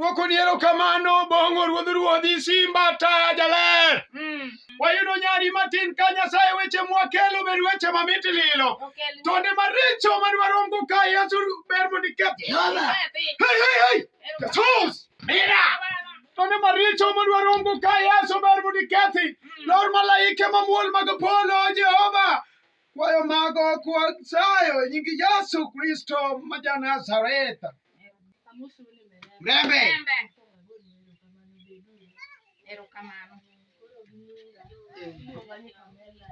Dwoko ni erokamano bongo ruodh ruodhi simba taya jaler. Mm. Wayudo nyari matin ka Nyasaye weche mwakelo ber weche mamit lilo. Okel. Tonde maricho madwaromgo ka Yesu ber mondo iketh. Jehova. Pepe. Hey, hey, hey! Jesus! Mira! Tonde maricho madwaromgo ka Yesu ber mondo ikethi. Lor malaike mamuol mag polo Jehova. Kwayo mago kwasayo e nying Yesu Kristo ma ja Nazareth. Mrembe. Erokamano. Iluonga ni Pamela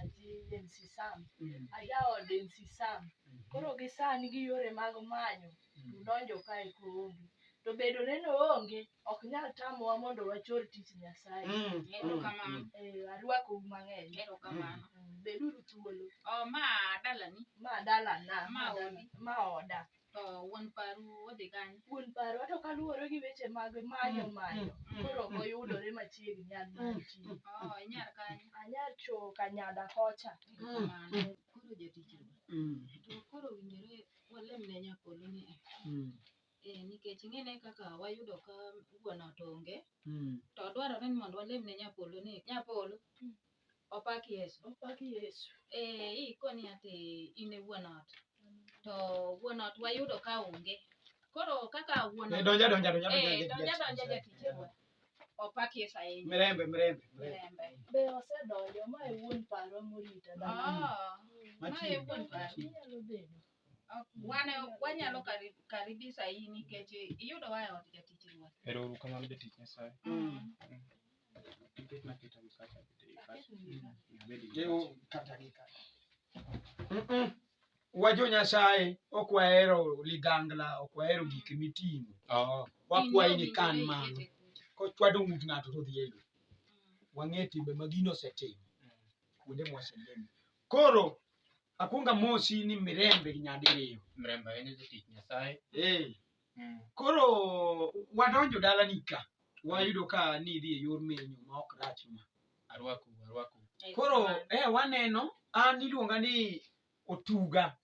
JNC Sam. Ajaod NC Sam. Koro gi sani gi yore mag manyo to donjo kae koonge. To bedo neno onge ok nyal tamowa mondo wachor tich Nyasaye. Mm, Erokamano. mm, Eh, arwakou mang'eny. Erokamano. Mm, Beduru thuolo. Oh, ma dalani Ma dalana, Ma ma dala- odi. ma oda. to wuon paru odhi kanye? Wuon parwa to kaluwore gi weche mag manyo Mm, manyo, mm, koro ok mm, oyudore machiegni nyal Mm, manti. Oh, inyar kanye? Anyar cho kanyada kocha. Erokamano. Koro jatich Ruoth. mm, To koro winjore walem ne nyakolo ni eh, mm, Eh, nikech ing'ene kaka wayudo ka wuon ot onge Mm. to dwarore ni mondo walem ne nyapolo ni nyapolo Mm. opak yesu Opak Yesu. eh, ikoni ati in e wuon ot to wuon ot wayudo ka onge koro kaka wuon Eh, ot- donja donja donja eh, donja donja donja jatich ewa. opak yesu ahinya mirembe mirembe mirembe. Rembe. Be osedonjo ma e wuon paro morita dhano. Ah, Machiegni. mae wuon paro. Inyalo bedo. Wane wanyalo kari- karibisa in nikech iyudo wa e od jatich ruoth. Ero uru kamano jatich Nyasaye. Nikech naketa mkate abedi mkate. Abedi mkate. Jeu kata gi kata. Mm-mm. Wajo Nyasaye ok wahero ligangla, ok wahero gik miting'o. Oh, Wakwayi ni kan mano. Kochwado ng'ut ng'ato to odhi e lowo. Wang'e timbe ma gino osetimo. Kuonde moselemo. Koro akuonga mosi ni mirembe nyadiriyo. Mirembe ahinya jatich Nyasaye. Eh. Mm. Koro wadonjo dalani ka wayudo ka nidhi e yor menyo ma ok rach ma. Arwaku, arwaku. Koro eh waneno an iluonga ni Otuga.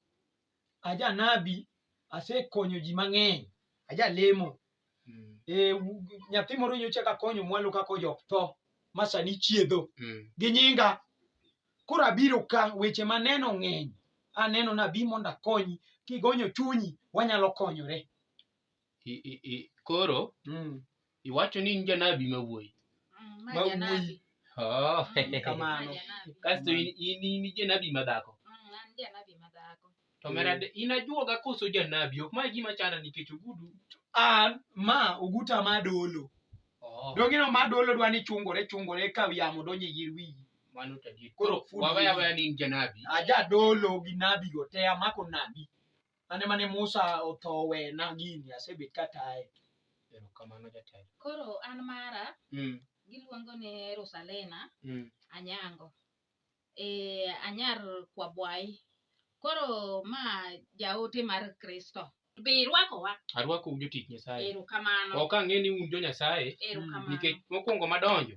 aja nabi asekonyo ji mang'eny aja lemo Mm. e, u- nyathi moro nyocha kakonyo mwalo kaka ojok tho ma sani chiedho Mm. gi nyinga koro abiro ka weche maneno ng'eny aneno nabi mondo akonyi kigonyo chunyi wanyalo konyore I- i- i- koro Mm. iwacho ni in janabi ma wuoyi Mm, ma Ma janabi. wuoyi. Oh, Mm, Kamano. ma janabi. kasto in in- in janabi ma dhako Mm, an janabi ma dhako. to merade in ajuoga koso janabi ok ma gima chanda nikech ogudu Ah, ma oguta ma dolo Oh, dongino ma dolo dwa ni chungore chungore ka yamo donjo e yir wiyi mano to adier. koro Koro full wawaya wiyi. waya ni in janabi aja dolo gi nabi go te amako nabi Mane mane Musa otho wena gini asebet kataye. Erokamano jatelo. Koro an mara Mm. giluongo ni Rusalena Mm. Anyango. Eh, anyar Kwabwai. Koro ma jaote mar Kristo. Be irwakowa? Arwakou jotich Nyasaye. Erokamano. Ok ang'e ni un jo Nyasaye Erokamano. nikech mokwongo madonjo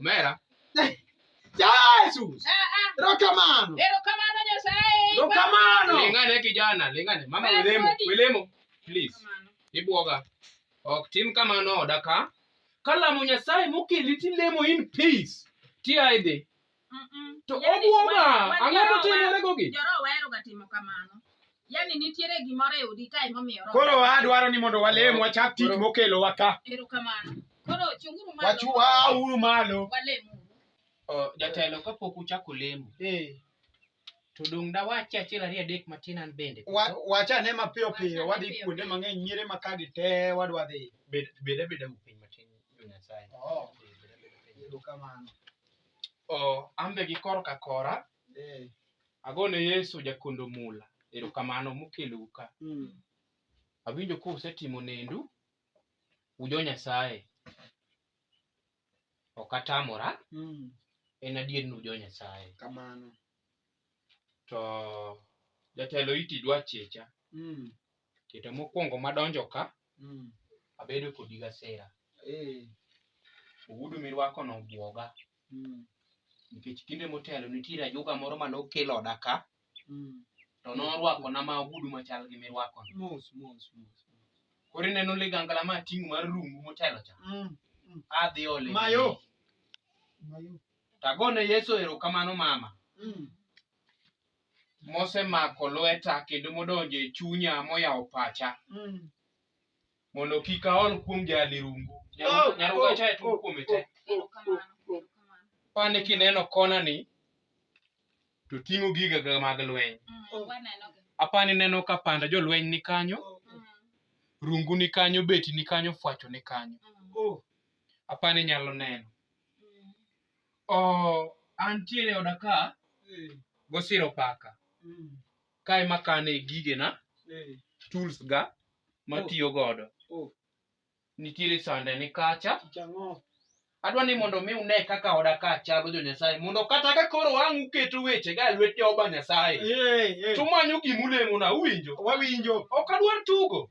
Omera. Jesus. Erokamano. Erokamano Nyasaye. Erokamano. Lingane kijana, lingane. Mama welemo, welemo. Please. Ibuoga. Ok tim kamano oda ka. Kalamo Nyasaye mokeli tilemo in peace. Ti aidhi. To obuoga. Ang'o to timore gogi? Joro wahero ga timo kamano. yani nitiere gimoro e odi kae momiyo roho Koro adwaro ni mondo walem wachak tich mokelowa ka. erokamano koro chunguru malo Wachua uru malo. walemuru Oh, jatelo kapok uchako lemo Eh, to dong' dawachi achiel ariyo adek matin an bende wa- wachane mapiyo piyo wadhi Wachane kuonde piyo. mang'eny nyire ma kagi te wadwa dhi. Bed- bed abeda mu piny matin jo nyasaye Oh. Eh, bed abeda piny. Erokamano. Oh, an be gi kor ka kora Eh, Ago ne Yesu jakondo mula. Erokamano mokelou ka. mm. Awinjo ka usetimo nendu. Ujo Nyasaye. Ok atamora. Mm. En adier ni ujo Nyasaye. Kamano. To jatelo iti dwa checha. Mm. Kete mokwongo madonjo ka, Mm. abedo kodi gasera. Eh. Ogudu mirwakono obwoga, Mm. nikech kinde motelo nitiere ajuoga moro mane okel oda ka, Mm. to norwakona ma ogudu machal gi mirwakono. Mos, mos, mos. Koro ineno ligangla ma ating'o mar rungu motelo cha, Mm. adhi ole. Mayo. Mayo. Tagone Yesu erokamano mama. Mm. mosemako lweta kendo modonjo e chunya moyawo pacha Mm. mondo kik aol kuom jali rungu Oh, nyaruga oh, cha e tuo kuome te pane kineno kona ni to ting'o giga ga mag lweny apani neno ka panda jolweny ni kanyo rungu ni kanyo beti ni kanyo fwacho ni kanyo Oh, apani nyalo neno Oh, antiere oda ka gosiro paka kae makane gigena tools ga matiyo godo Oh. nitiere sande ni kacha Chang'o. adwa ni mondo mi une kaka oda ka chalo jo nyasaye mondo kata ka koro wang' uketo weche ga e lwet jehova nyasaye Ee, ee. to manyo gima ulemona uwinjo Wawinjo. ok adwar tugo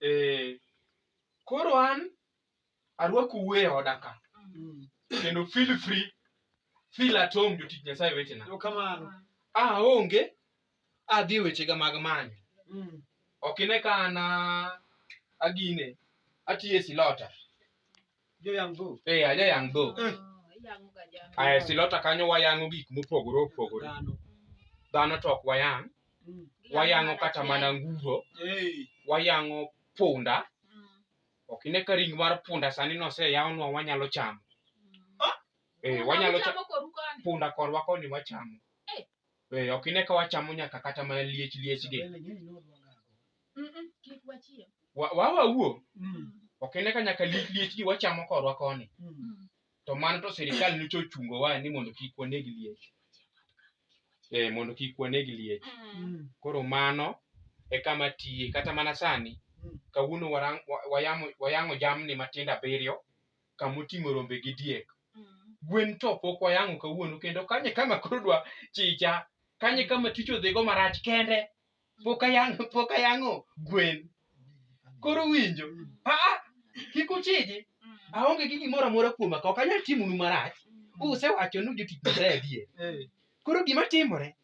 Eh, koro an arwakou e oda ka kendo feel free feel at home jotich nyasaye wetena Kamano. aonge adhi wechega mag manyo ok ine ka an a- agine atiyo e silota Jo yang' go. Eh, aja yang' dhok. Eh. Iyangoga jamni. Aya, e silota kanyo wayang'o gik mopogore opogore. Dhano. Dhano to ok wayang', Mm. wayang'o kata mana nguro, Eh. wayang'o punda. Mm. Ok ine ka ring mar punda sani noseyawnwa wanyalo chamo. Eh, wanyalo chamo. Chamo koru koni. Punda korwa koni wachamo. Eh, ok ine ka wachamo nyaka kata mana liech liech gi Bende ng'eny ni odwa gago. Mm-mm, kik wachiem. Wa- wa wawuo Mm. ok ine ka nyaka liech liech gi wachamo korwa koni Mm. Mm. to mano to sirikal nyocha ochungo wa ni mondo kik waneg liech eh, mondo kik waneg liech Mm. Mm. koro mano e kama tiye kata mana sani Mm. kawuono warang- wa- wayamo- wayang'o jamni matindo abiriyo kama oting'o rombe gi diek Mm. gwen to pok wayang'o kawuono kendo kanye kama koro dwa chicha kanye kama tich odhigo marach kende pok ayang'o pok ayang'o gwen koro winjo aa kik uchiji Mm. aonge gi gimoro amora kuoma ka ok anyal timonu marach Mm. usewacho ni jotich nyasaye adier Eh, koro gima timore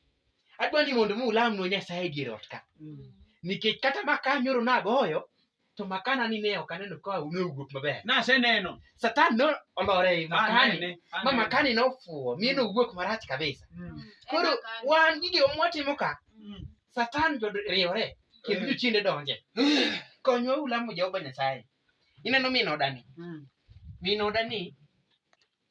adwa ni mondo mi ulamnwa nyasaye e dier ot ka Mm. nikech kata ma ka nyoro nagoyo To makana ni ne ok aneno ka ne owuok maber. Naseneno. Satan ne olore ei makani. Anene. Ma anene. makani ne ofuwo, mi ne owuok marach kabisa. Mm. Koro wan gige mwatimo ka, Mm. Satan jo riwore kendo Mm. jochiende donje. Konywa ulamo Jehova Nyasaye. Ineno min odani. Mm. Min odani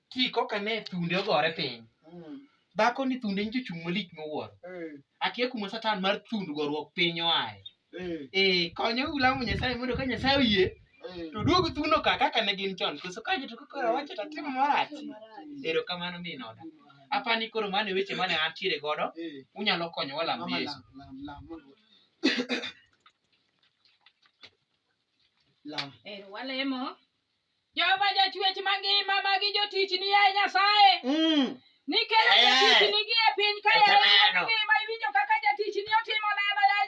ki koka ne thunde ogore piny Mm. dhako ni thunde nyicho chung' malich miwuoro Eh. akia kuma satan mar thund goruok piny oae Eh. ee konyo ulamo nyasaye mondo ka nyasaye oyie Eh. to duog thuno ka kaka ne gin chon koso ka joto kokora wacho to timo marach erokamano min oda apani koro mano e weche mane antiere godo Eh. unyalo konyo walam Mama, yesu lam, lam, lam, mondo- Lam. Eh, walemo Jehova jachwech mangima magi jotichni yaye Nyasaye. Mm. Nikelo Eh. jotichni gi e piny ka yaye Ekamano. ngima iwinjo kaka jatichni otimo neno yaye